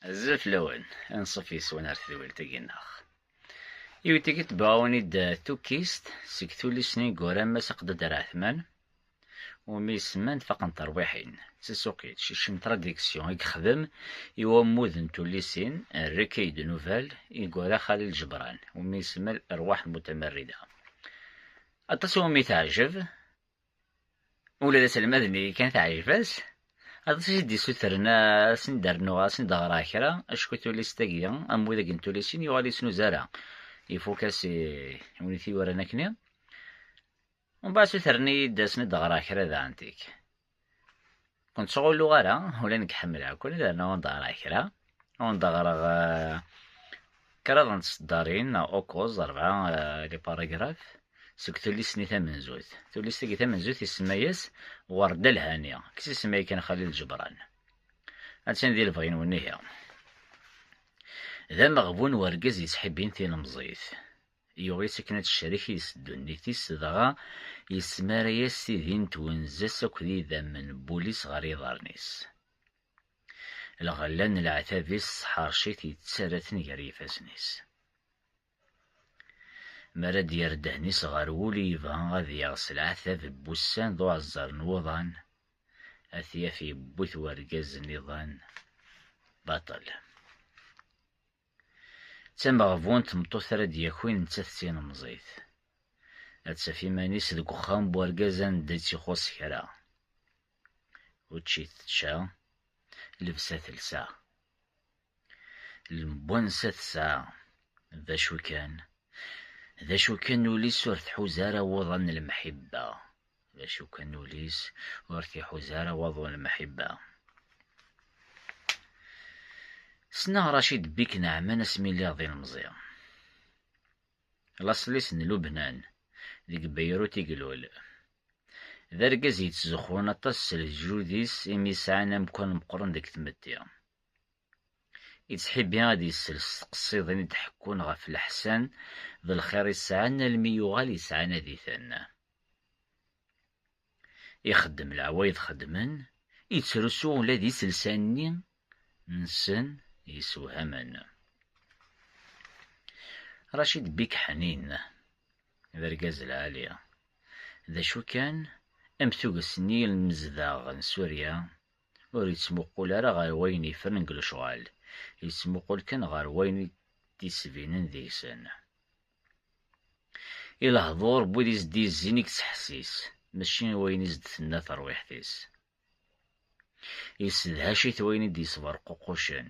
Azef lawan, anṣuf yes-wen ar tedwilt-agi neɣ. Iwet-agi tbaɛun-id tukkist seg tullist n Igura Mass Aqdadar Ɛetman, umi isemman Faqen terwiḥin, d tasuqilt, Cicem Traduction, i yexdem i wammud n tullisin Recueil de nouvelles Igura Xalil Ǧebran, umi isemmal Rrwaḥ Mutamarrida. Aṭas i wumi teɛjeb, Ula d aselmad-nni kan teɛjeb-as. Aṭas i d-issutren ad sen-d-rnuɣ, ad sen-d-ɣreɣ kra, acku tullist-agi, am widak n tullisin, yuɣal yesnuz ara. Ifuk-as i win i t-yuran akk-nni. Mbeɛd sutren-iyi-d ad sen-d-ɣreɣ kra daɣen tik. Ur nettɣulluɣ ara, ula nekk ḥemmleɣ-ken, yerna ur d-ɣriɣ kra. Ur d-ɣriɣ kraḍ n tseddarin neɣ ukuẓ, rebɛa, les paragraphes, seg tullist-nni tamenzut. Tullist-agi tamenzut isemma-yas Werda Lhani, deg tsisemma yakan Xalil Ǧebran. Attan di lebɣi-nwen ihi. D ameɣbun wergaz yettḥibbin tilemẓit. Yuɣ-itt akken ad tecrek yis ddunit-is, dɣa yesmara-yas tidi n twenza-s akked idammen n wul-is ɣer yiḍarren-is. Lɣella n leɛtab-is tesḥerc-it yettarra-ten gar yifassen-is. Mi ara d-yerr ddehn-is ɣer wul i yebɣa ad yaɣ s leɛtab n wussan d uɛeẓẓer n wuḍan, ad t-yaf yewwi-t wergaz n iḍan baṭel. D tameɣbun n tmeṭṭut ara d-yakin nettat d tilemẓit. Ad taf iman-is deg uxxam n urgaz anda i tt-ixuṣṣ kra. Učči tečča, lebsa telsa. Lemwansa tesɛa. D acu kan, d acu kan ul-is ur tḥuz ara wuḍan n lemḥibba. D acu kan ul-is ur t-iḥuza ara waḍu n lemḥibba. Ssneɣ Racid Bik Naɛman asmi lliɣ d ilemẓi. Laṣel-is n Lubnan, deg Beyrut i ilul. D argaz yettzuxxun aṭas s leǧyud-is imi sɛan amkan meqqren deg tmetti. Yettḥibbi ad yessel s tqeṣṣidin i d-ḥekkun ɣef leḥsan d lxir i sɛan almi yuɣal yesɛanad-iten. Ixeddem leɛwayed xeddmen, ittrusu ula d iselsa-nni nsen yessewhamen. Racid Bik Ḥnin, d argaz lɛali. D acu kan, am tuget n yilmezdaɣ n Surya, ur yettmuqul ara ɣer wayen yefren deg lecɣal, yettmuqul kan ɣer wayen i d-yettbinen deg-sen. I lehdur n wid i s-d-yezzin i yettḥessis, mačči i wayen i s-d-tenna terwiḥt-is. Yessedhac-it wayen i d-yesberququcen,